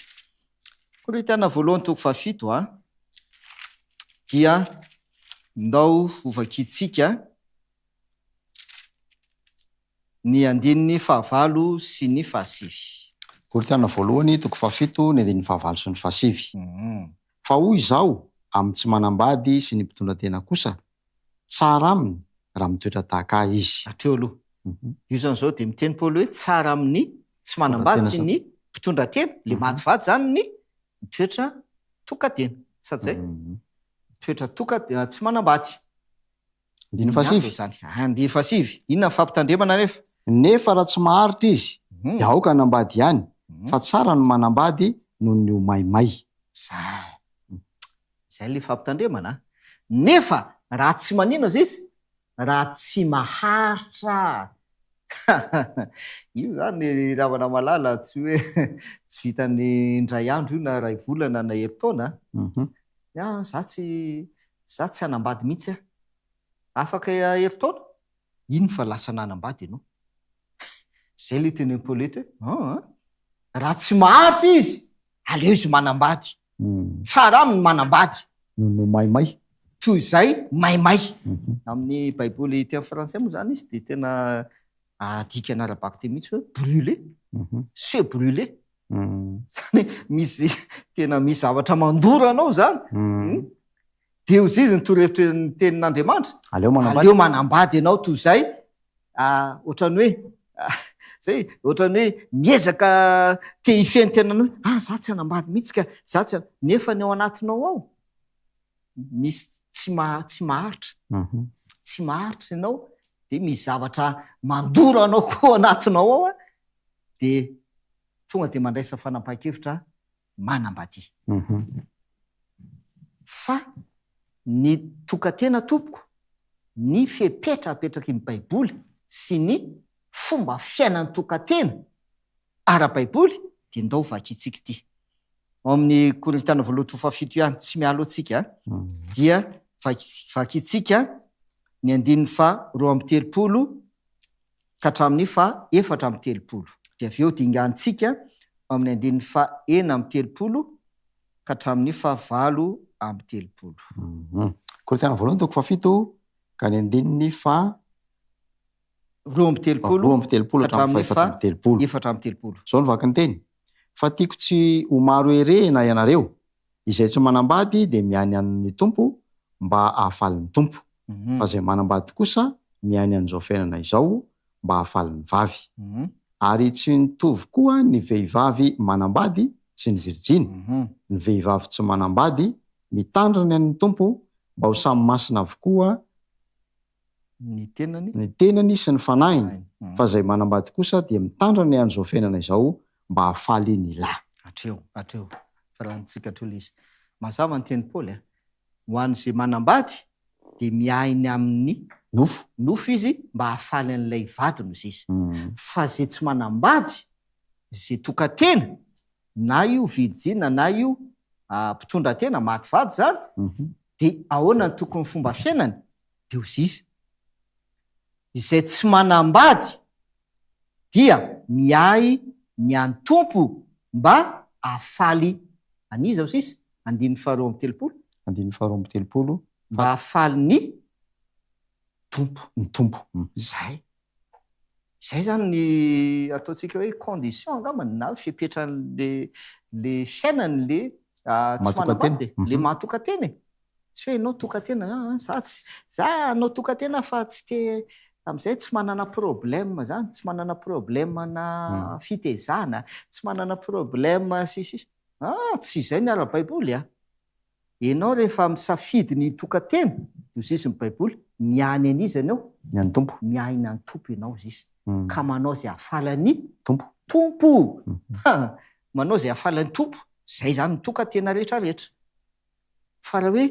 Korintana voalohany toko fahafito a, dia ndao hovakintsika ny andininy fahavalo sy ny fahasivy. Korintana voalohany toko fahafito ny andininy fahavalo sy ny fahasivy. Fa hoy izaho amin'ny tsy manambady sy ny mpitondratena kosa, Tsara aminy raha mitoetra tahaka ahy izy. Hatreo aloha. Io zany zao dia miteny Paoly hoe tsara amin'ny tsy manambady ny mpitondra tena, ilay madivady zany ny mitoetra toka-tena. Sa tsy zay? Mitoetra toka, tsy manambady. Andininy fahasivy. Andininy fahasivy. Inona ny fampitandremana anefa? Nefa raha tsy maharitra izy, dia aoka hanambady ihany, fa tsara ny manambady noho ny ho maimay. Zay. Izay ilay fampitandremana a! Nefa raha tsy manino aza izy, raha tsy maharitra io izany ry namana malala tsy hoe tsy vitan'ny indray andro io na iray volana na herintaona a! Za tsy, za tsy hanambady mihitsy aho. Afaka herintaona? Iny fa lasa nanambady ianao. Zay le tena impolety hoe an an. Raha tsy maharitra izy, aleo izy manambady. Tsara aminy ny manambady. Noho ny maimay. Toy izay maimay. Amin'ny baiboly ety amin'ny frantsay moa izany izy dia tena adikany ara-bako teny mihitsy hoe brûlé. Se brûler. Izany hoe misy tena misy zavatra mandoro anao izany. Dia hoy izy ny torohevitrin'ny Tenin'Andriamanitra, Aleo manambady. Aleo manambady ianao toy izay, ohatran'ny hoe, izay, ohatran'ny hoe miezaka te hifehy ny tenany hoe, ah, izaho tsy hanambady mihitsy ka, izaho tsy han-, nefa ny ao anatinao ao misy tsy maha, tsy maharitra. Tsy maharitra ianao, dia misy zavatra mandoro anao koa ao anatinao ao, dia tonga dia mandraisa fanapahan-kevitra manambady. Fa ny tokan-tena tompoko, ny fepetra apetraky ny Baiboly sy ny fomba fiainan'ny tokan-tena ara-baiboly dia ndao vakintsika ity ao amin'ny Korintana voalohany toko fahafito ihany, tsy mialoha tsika a, dia vakintsika ny andininy faha roa amby telopolo ka hatramin'ny faha efatra amby telopolo, dia avy eo dinganintsika ao amin'ny andininy faha enina amby telopolo ka hatramin'ny faha valo amby telopolo. Um. Korintiana Voalohany toko faha fito ka ny andininy faha roa amby telopolo roa amby telopolo ka hatramin'ny faha efatra amby telopolo. efatra amby telopolo. Izao ny vaky ny teny, Fa tiako tsy ho maro herehina ianareo, Izay tsy manambady dia mihaino an'ny Tompo mba hahafaly ny Tompo, fa izay manambady kosa mihaino an'izao fiainana izao mba hahafaly ny vavy. Ary tsy mitovy koa ny vehivavy manambady sy ny virjiny. Ny vehivavy tsy manambady mitandrina ny Tompo mba ho samy masina avokoa ny tenany, ny tenany sy ny fanahiny, fa izay manambady kosa dia mitandra ny andro izao fiainana izao mba hahafaly ny lahy. Hatreo, hatreo, fa lanintsika hatreo ilay izy. Mazava ny tenin'i Paoly a! Ho an'izay manambady dia miahy ny amin'ny. Nofo. Nofo izy mba hahafaly an'ilay vadiny hoy Zisy. Fa izay tsy manambady, izay tokan-tena, na io virjina na io mpitondratena, maty vady izany, dia ahoana ny tokony fomba fiainany? Deo zisa. Izay tsy manambady dia miahy ny an'ny Tompo mba hahafaly an'iza aho sisa? Andininy faharoa amby telopolo. Andininy faharoa amby telopolo. Mba hahafaly ny Tompo. Ny Tompo. Izay. Izay izany ny ataontsika hoe condition angamba na fepetran'ilay fiainany ilay tsy manambady e, ilay maha tokan-tena e. Tsy hoe ianao tokan-tena, za tsy, za hanao tokan-tena fa tsy te, amin'izay tsy manana problème izany, tsy manana problème-na fitezana, tsy manana problème sy ny sisa. Ah, tsy izay ny ara-baiboly an! Enao rehefa misafidy ny hitokantena dia ho ziziny baiboly, miahy ny an'iza enao? Ny an'ny Tompo. Miahy ny an'ny Tompo enao zisy ka manao zay ahafaly an'i. Tompo. Tompo! Ha! Manao zay ahafaly an'i Tompo, zay zany ny tokantena rehetra rehetra. Fa raha hoe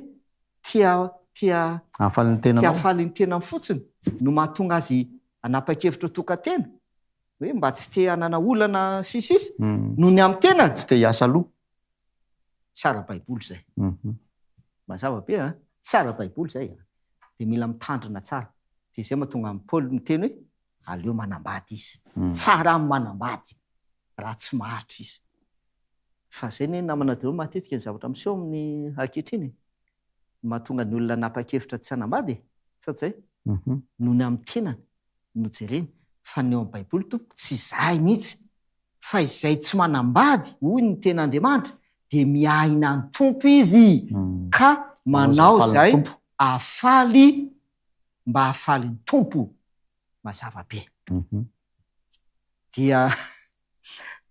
tia, tia, Hahafaly ny tenanao. Tia hahafaly ny tenany fotsiny no mahatonga azy hanapa-kevitra ho tokantena, hoe mba tsy te hanana olana sy ny sisa, noho ny amin'ny tenany. Tsy te hiasa loha. Tsara baiboly zay. Mazava be a! Tsara baiboly zay a! Dia mila mitandrina tsara. Dia zay mahatonga an'i Paoly miteny hoe aleo manambady izy. Tsara amin'ny manambady raha tsy maharitra izy. Fa zay ny namana daholo matetika ny zavatra miseho amin'ny ankehitriny e! Ny mahatonga ny olona hanapa-kevitra tsy hanambady e! Sa tsy zay? Noho ny amin'ny tenany no jereny. Fa ny eo amin'ny baiboly tompoko tsy zay mihitsy. Fa izay tsy manambady, hoy ny Tenin'Andriamanitra, dia miahina ny Tompo izy, ka manao izay hahafaly ny mba hahafaly ny Tompo. Mazava be. Dia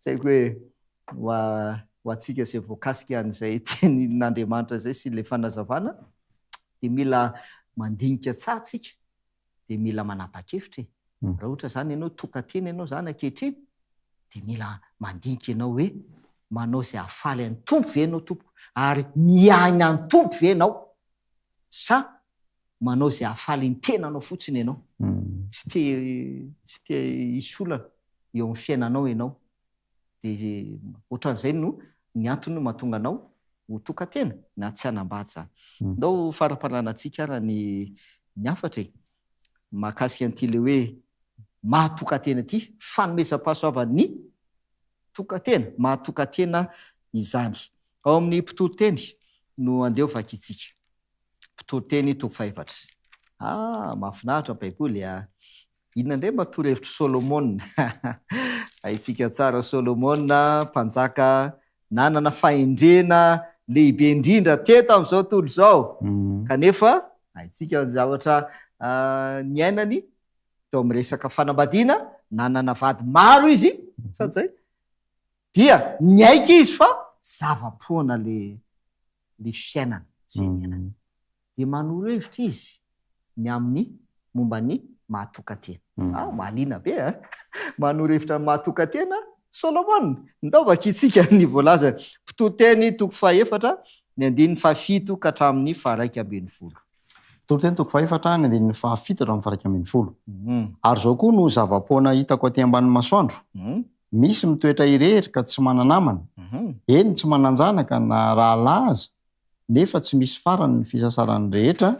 tsy haiko hoe ho antsika izay voakasika an'izay Tenin'Andriamanitra izay sy ilay fanazavana, dia mila mandinika tsara isika. dia mila manapa-kevitra e! Raha ohatra izany ianao tokan-tena ianao izany ankehitriny dia mila mandinika ianao hoe manao izay hahafaly an'ny Tompo ve ianao tompoko ary miaina an'i Tompo ve ianao sa manao izay hahafaly ny tenanao fotsiny ianao? Tsy te tsy te hisy olana eo amin'ny fiainanao ianao dia ohatran'izay no ny antony mahatonga anao ho tokan-tena na tsy hanambady izany. Ndao faraparanantsika ara ny ny hafatra e! mahakasika an'ity ilay hoe maha tokan-tena ity, fanomezam-pahasoavan'ny tokan-tena, maha tokan-tena izany. Ao amin'ny mpitoriteny no andeha ho vakintsika. Mpitoriteny toko fahefatra. Ah mahafinaritra ny baiboly a! Inona indray mba torohevitr'i Solomona? Haintsika tsara Solomona, mpanjaka nanana fahendrena lehibe indrindra teto amin'izao tontolo izao, kanefa haintsika ny zavatra niainany teo amin'ny resaka fanambadiana, nanana vady maro izy, sa tsy izay? Dia niaiky izy fa zava-poana ilay fiainana izay niainany. Dia manoro hevitra izy ny amin'ny momba ny maha-tokan-tena. Wow, mahaliana be a! Manoro hevitra ny maha-tokan-tena Solomona. Ndao vakintsika ny voalazany, Mpitory teny toko fahefatra, ny andininy fahafito ka hatramin'ny faharaika ambin'ny folo. Mpitory teny toko fahefatra, ny andininy fahafito hatramin'ny faharaika ambin'ny folo, Ary izao koa no zava-poana hitako aty ambanin'ny masoandro, Misy mitoetra irery ka tsy mana-namana, eny tsy manan-janaka na rahalahy aza, nefa tsy misy farany ny fisasarany rehetra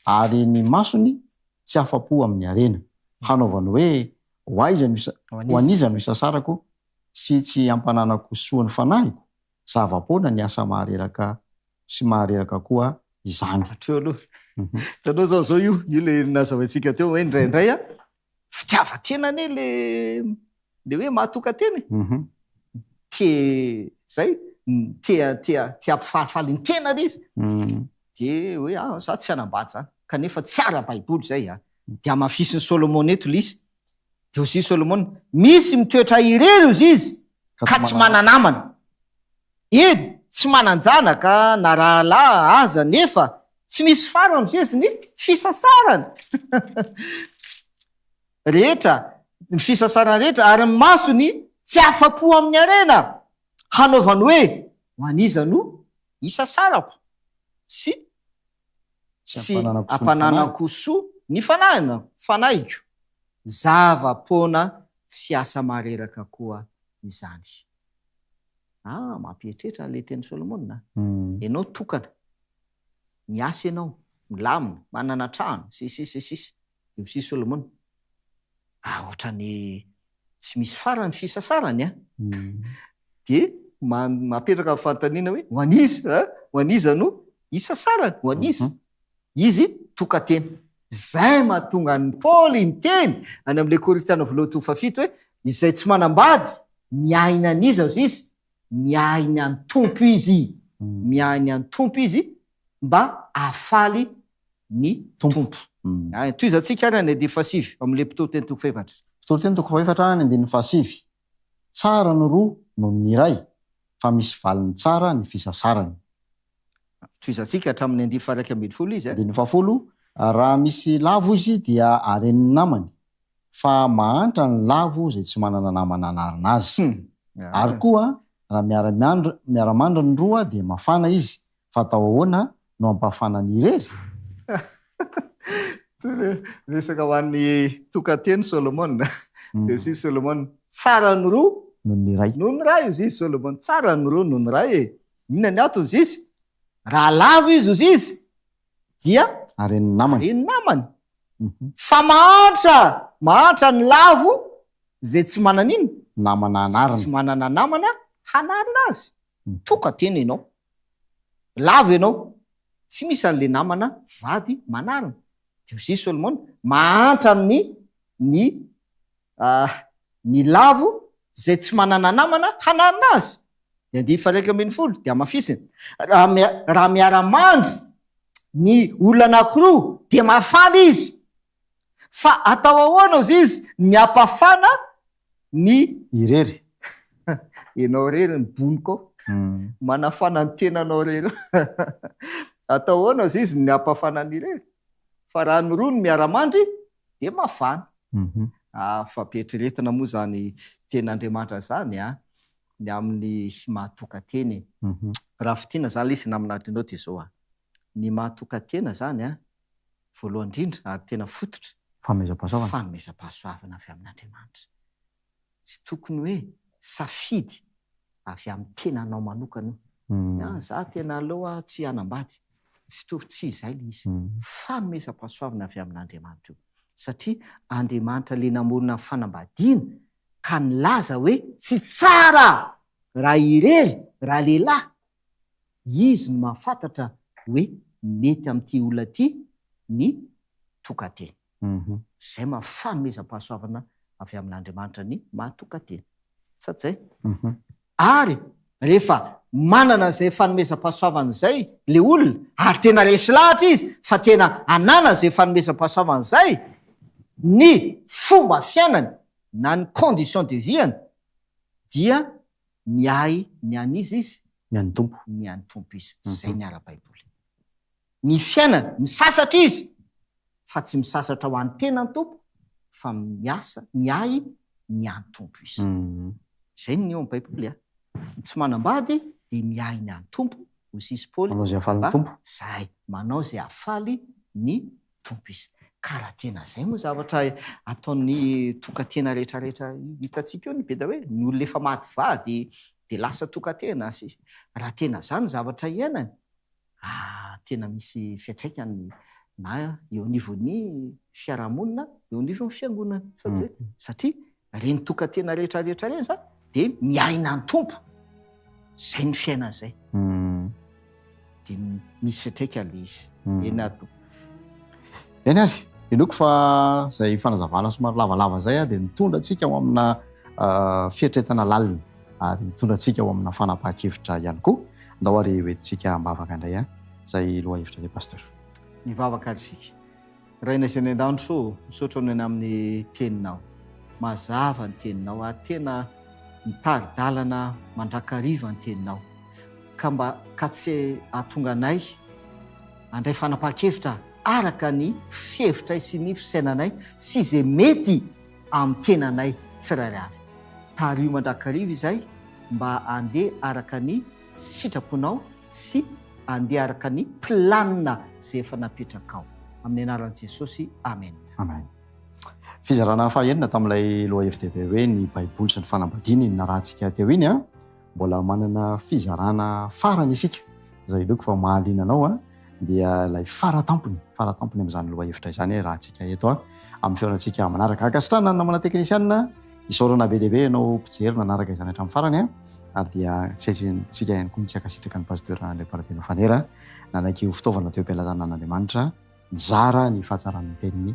ary ny masony tsy afa-po amin'ny harena. Hanaovany hoe, Ho aiza no, ho an'iza no isasarako sy tsy ampananako soa ny fanahiko? Zava-poana ny asa mahareraka sy mahareraka koa izany. Hatreo aloha. Hitanao izao, izao io, io ilay nazavaintsika teo hoe indraindray fitiavan-tena anie le le hoe mahatokan-tena e mhm. te zay te te te hampifalifaly ny tena le izy mhm. de hoe ah za tsy hanambady zany kanefa tsy ara-baiboly zay a ah. de amafisin'i solomona eto le izy de ozy solomona misy mitoetra irery ozy izy ka tsy mananamana Eny, tsy manan-janaka na rahalahy aza nefa tsy misy fara mizezi ny fisasarany rehetra, ny fisasarany rehetra, ary ny masony tsy afa-po amin'ny harena hanaovany hoe, Ho an'iza no isasarako? sy. tsy ampananako soa ny fanahina, fanahiko, zava-poana sy asa mareraka koa izany. Ah, mampiheritreritra ilay tenin'i Solomona a! Ianao tokana, miasa ianao, milamina, manana trano, sy ny sisa sy ny sisa. Dia hoy i Solomona, Ah, ohatran'ny tsy misy farany ny fisasarany an! Dia mapetraka ny fanontaniana hoe, ho an'iza? Ho an'iza no hisasarany? Ho an'iza? Izy tokan-tena. Izay no mahatonga an'i Paoly niteny any amin'ilay Korintiana Voalohany toko fahafito hoe, Izay tsy manambady, miahy ny an'iza hozy izy? Miahy ny an'ny Tompo izy. Miahy ny an'ny Tompo izy, mba hahafaly ny Tompo. Tohizantsika any ny andininy fahasivy ao amin'ilay Mpitory teny toko fahefatra. Mpitory teny toko fahefatra ny andininy fahasivy, Tsara ny roa noho ny iray, fa misy valiny tsara ny fisasarany. Tohizantsika hatramin'ny andininy faha-iraika ambin'ny folo izy. Andininy fahafolo, Raha misy lavo izy dia haren'ny namany, fa mahantra ny lavo izay tsy manana namana hanarina azy. Ary koa, raha miara-miandry, miara-mandry ny roa dia mafana izy, Fa atao ahoana no hampafana ny irery? Toy ny resaka ho an'ny tokan-teny Solomona. Dia hoy Solomona, Tsara ny roa noho ny iray. Noho ny iray, hoy izy Solomona. Tsara ny roa noho ny iray e! Inona ny antony, hoy izy? Raha lavo izy, hoy izy, dia haren'ny namany. Fa mahantra, mahantra ny lavo izay tsy manana inona? Namana hanarina. Izay tsy manana namana hanarina azy. Mitroka tena ianao. Lavo ianao. Tsy misy an'ilay namana vady manarina. Dia hoy i Solomona, Mahantra amin'ny ny ah, ny lavo izay tsy manana namana hanarina azy. Ny andiany faha-iraika ambin'ny folo dia hamafisina, Raha mia, raha miara-mandry ny olona anankiroa, dia mahafaly izy. Fa atao ahoana ozy izy ny apafana ny irery. Enao irery ny boniko manafana ny tenanao irery. Atao ahoana ozy izy ny apafana ny irery. Fa raha ny roa no miara-mandry dia mafana. Ah fa be eritreretina moa izany tenin'Andriamanitra izany an! Ny amin'ny maha toka teny e! Raha fintinina izany ilay izy naminadrinao dia izao an! Ny maha tokan-tena izany an, voalohany indrindra ary tena fototra, Fanomezam-pahasoavana. fanomezam-pahasoavana avy amin'Andriamanitra. Tsy tokony hoe safidy avy amin'ny tenanao manokana io. Ny ahy, izaho tena aleo aho tsy hanambady. Tsy to, tsy izay ilay izy. Fanomezam-pahasoavana avy amin'Andriamanitra io. Satria Andriamanitra ilay namorona ny fanambadiana ka nilaza hoe. Tsy tsara raha irery ralehilahy Izy no mahafantatra hoe mety amin'ity olona ity ny tokan-teny. Izay maha fanomezam-pahasoavana avy amin'Andriamanitra ny maha tokan-teny. Sa tsy izay? Ary rehefa manana izay fanomezam-pahasoavana izay ilay olona, ary tena resy lahatra izy fa tena ananany izay fanomezam-pahasoavana izay, ny fomba fiainany na ny condition de vie-ny dia Miahy ny an' iza izy? Ny an'ny Tompo. Ny an'ny Tompo izy. Izay ny ara-baiboly. Ny fiainany, misasatra izy, fa tsy misasatra ho an'ny tenany Tompo, fa miasa, miahy ny an'ny Tompo izy. Izay ny eo amin'ny baiboly a! Ny tsy manambady dia miahy ny an'ny Tompo, hoy sisa i Paoly, mba izay, manao izay hahafaly ny Tompo izy. Ka raha tena izay moa zavatra ataon'ny tokantena rehetrarehetra hitantsika eo ny be dia hoe ny olona efa maty vady dia lasa tokantena sy sisa raha tena izany ny zavatra hiainany ah tena misy fiantraikany na eo anivon'ny fiarahamonina eo anivon'ny fiangonana satria Ireny tokan-tena rehetra rehetra ireny izany dia miaina ny Tompo. Izay ny fiainana izay. Dia misy fiantraika ilay izy. Eny ary Tompo. Eny ary, inoako fa izay fanazavana somary lavalava izay dia nitondra antsika ho amina fieritreretana lalina ary nitondra antsika ho amina fanapahan-kevitra ihany koa. Andao ary hoentintsika am-bavaka indray izay lohahevitra izay Pasteur. Mivavaka ary isika. Rainay izay any an-danitro ô, misaotra Anao ny amin'ny Teninao. Mazava ny Teninao ary tena mitari-dalana mandrakariva ny Teninao. Ka mba ka tsy hahatonga anay handray fanapahan-kevitra araka ny fihevitray sy ny fisainanay sy izay mety amin'ny tenanay tsirairay avy. Tariho mandrakariva izay mba handeha araka ny. sitrako anao sy andeha araka ny planina izay efa napetrakao. Amin'ny anaran'i Jesosy, amena. Amen. Fizarana fahenina tamin'ilay loha-FDB hoe ny Baiboly sy ny fanambadiana iny narahantsika teo iny. Mbola manana fizarana farany isika, izay inoako fa mahaliana anao. dia ilay fara tampony, fara tampony amin'izany lohahevitra izany eh, raha antsika eto ah, amin'ny fihaonantsika manaraka. Ankasitrahana ny namana teknisianina, isaorana be dia be ianao mpijery nanaraka izany hatramin'ny farany eh, ary dia tsetsitsika ihany koa ny tsy ankasitraka ny pasteur Andriamparabeno Fanera nanaiky ho fitaovana teo am-pialazanan'Andriamanitra nizara ny fahatsaran'ny teniny.